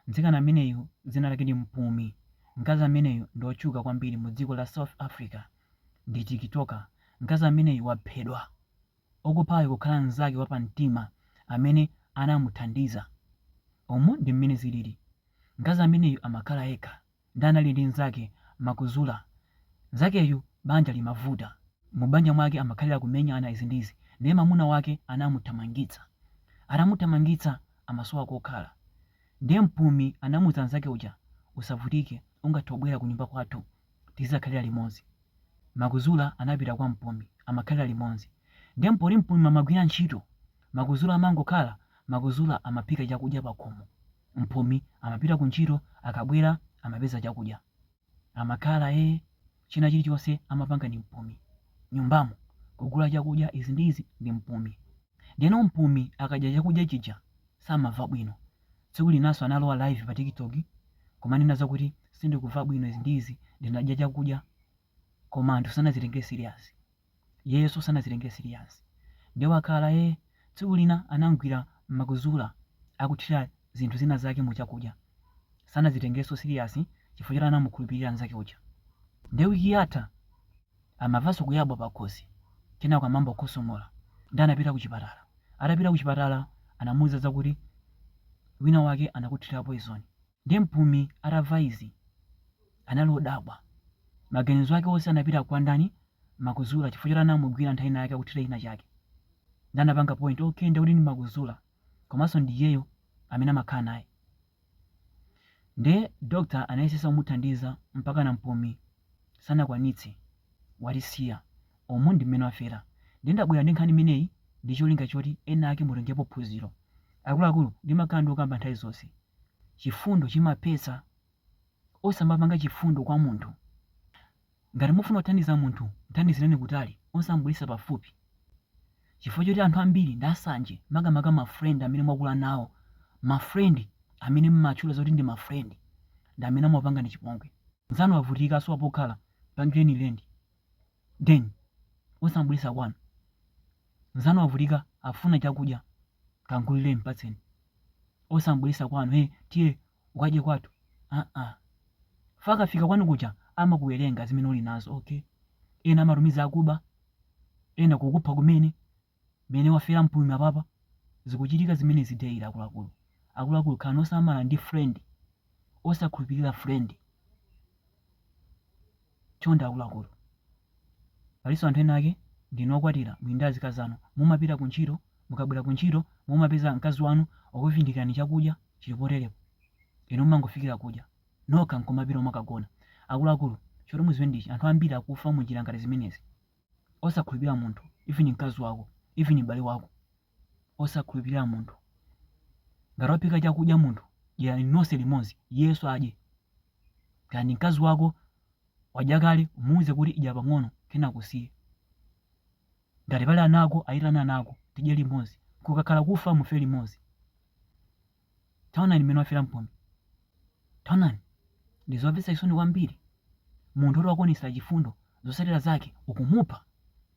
Mtsikana ameneyu dzina lake ndi Mpumi. Mkazi ameneyu ndi otchuka kwambiri mu dziko la South Africa. Ndi tiktoker. Mkazi ameneyu waphedwa. Okuphayo kukhala mzake wa pa mtima amene anamuthandiza. Umu ndi m'mene zilili. Mkazi ameneyu amakhala yekha. Ndiye anali ndi nzake Makuzula nzakeyu banja limavuta mubanja mwake amakhalila kumenyana izi ndi izi ndiye mamuna wake anamuthamangitsa atamuthamangitsa amasowa kokhala ndiye mpumi anamuza nzake uja usavutike ungathe kubwera kunyumba kwathu tizizakhalila limodzi Makuzula anapita kwa mpumi amakhalila limodzi ndiye poti mpumi amagwira ntchito Makuzula amangokhala Makuzula amaphika chakudya pakhomo Mpumi amapita ku ntchito akabwera amapeza chakudya amakhala ee china chilichonse amapanga ndi Mpumi nyumbamo kugula chakudya izi ndi izi ndi Mpumi ndeno Mpumi akadya chakudya chija samava bwino tsiku linaso analowa live pa tiktok kumanena zakuti sindikuva bwino izi ndi izi ndinadya chakudya koma anthu sanazitenge serious iyeyoso sanazitenge serious nde wakhala ee tsiku lina anamgwira Makuzula akuthira zinthu zina zake mu chakudya sanazitengeso serious chifukwa choti anamukhulupilira nzake uja nde week yatha amavaso kuyabwa pakhosi kenako anayamba kukhosomola nde anapita kuchipatala atapita kuchipatala anamuuza zakuti wina wake anakuthira poison Ndiye Mpumi atamva izi, anali odabwa. Maganizo ake onse anapita kwa ndani, Makuzula chifukwa choti anamugwira nthawi ina yake akuthira china chake. Ndiye anapanga point, okay ndiye kuti ndi Makuzula komanso ndi iyeyo amene amakhala naye. Ndiye doctor anayesesa kumuthandiza mpakana Mpumi sanakwanitse, watisiya. Umu ndi mmene wafera. Ndiye ndabwera ndi nkhani imeneyi ndi cholinga choti ena ake mutengepo phunziro. Akuluakulu ndimakhala ndikukamba nthawi zonse. Chifundo chimaphetsa. Osamapanga chifundo kwa munthu. Ngati mufuna kuthandiza munthu, mthandizireni kutali, osamubweretsa pafupi. Chifukwa choti anthu ambiri ndi asanje, makamaka ma friend amene mwakula nawo, ma friend amene mmatchula zoti ndi ma friend ndi amene amakupangani chipongwe. Nzanu wavutika asowa pokhala, mpangireni rent, then osamubweretsa kwanu. Mzanu wavutika afuna chakudya kamgulireni mpatseni osam'bweretsa kwanu hey tiye ukadye kwathu aa chifukwa akafika kwanu kuja amakuwerenga zimene uli nazo okay ena amatumiza akuba ena kukupha kumene mene wafera Mpumi apapa zikuchitika zimenezi daily akuluakulu akuluakulu khalani osamala ndi friend osakhulupirira friend Chonde akuluakulu, palinso anthu ena ake ndinu okwatira muli ndi azikazi anu, mumapita ku ntchito, mukabwera ku ntchito mumapeza mkazi wanu wakuvindikirani chakudya chili poterepo, inu mumangofikira kudya nokha nkumapita umakagona. Akuluakulu, choti muziwe ndi ichi, anthu ambiri akufa mu njira ngati zimenezi. Osakhulupirira munthu, even mkazi wako, even m'bale wako. osakhulupirira munthu. Ngati waphika chakudya munthu, dyerani nonse limodzi, iyenso adye. Kaya ndi mkazi wako, wadya kale, umuuze kuti idya pang'ono, kenako usiye. Ngati pali ana ako, aitane ana ako, tidye limodzi. Kukakhala kufa, mufe limodzi. Taonani mmene wafera Mpumi. Taonani, ndi zomvetsa chisoni kwambiri. Munthu woti wakuonetsera chifundo, zotsatira zake ukumupha!